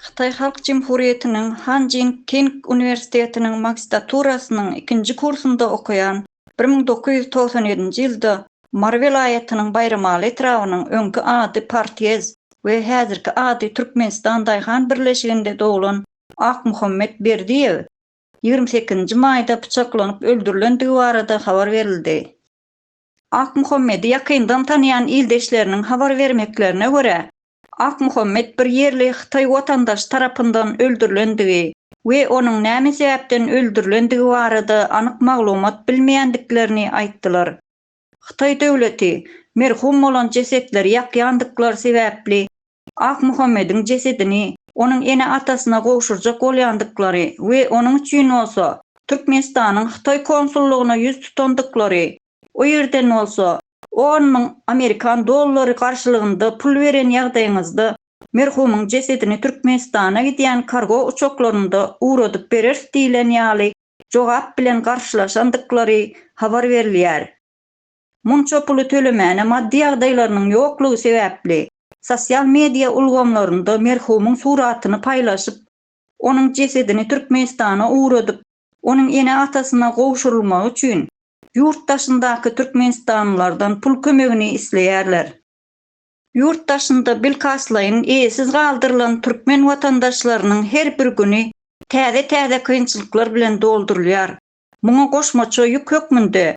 Hytaý Halk Jemhurýetiniň Han Jin King uniwersitetiniň magistraturasynyň ikinji kursunda okaýan bir müň dokuz ýüz togsan ýedinji ýylda Mary welaýatynyň Baýramaly etrabynyň, öňki ady Partýez we häzirki ady Türkmenistan daýhan birleşiginde doglan Akmuhammet Berdiýew ýigrimi sekizinji maýda pyçaklanyp öldürilendigi barada habar berildi. Akmuhammedi ýakyndan tanýan ildeşleriniň habar bermeklerine görä, Akmuhammet bir ýerli hytaý watandaşy tarapyndan öldürilendigi we onuň näme sebäpden öldürilendigi barada anyk maglumat bilmeýändiklerini aýtdylar. Hytaý döwleti merhum bolan jesetleri ýakýandyklar sebäpli Akmuhammediň jesedini onuň ene-atasyna gowşurjak bolýandyklary we onuň üçin bolsa Türkmenistanyň Hytaý konsullygyna ýüz tutandyklary, o ýerden bolsa on müň amerikan dollary garşylygynda pul beren ýagdaýyňyzda merhumyň jesedini Türkmenistana gidýän kargo uçaklarynda ugradyp bereris diýlen ýaly jogap bilen garşylaşandyklary habar berilýär. Munça puly tölemäne maddy ýagdaýlarynyň ýoklugy sebäpli, sosial media ulgamlarynda merhumyň suratyny paýlaşyp, onuň jesedini Türkmenistana ugradyp, onuň ene-atasyna gowşurylmagy üçin ýurt daşyndaky türkmenistanlylardan pul kömegini isleýärler. Ýurt daşynda bilkastlaýyn eýesiz galdyrylan türkmen watandaşlarynyň her bir güni täze-täze kynçylyklar bilen doldurylýar. Muňa goşmaça ýük hökmünde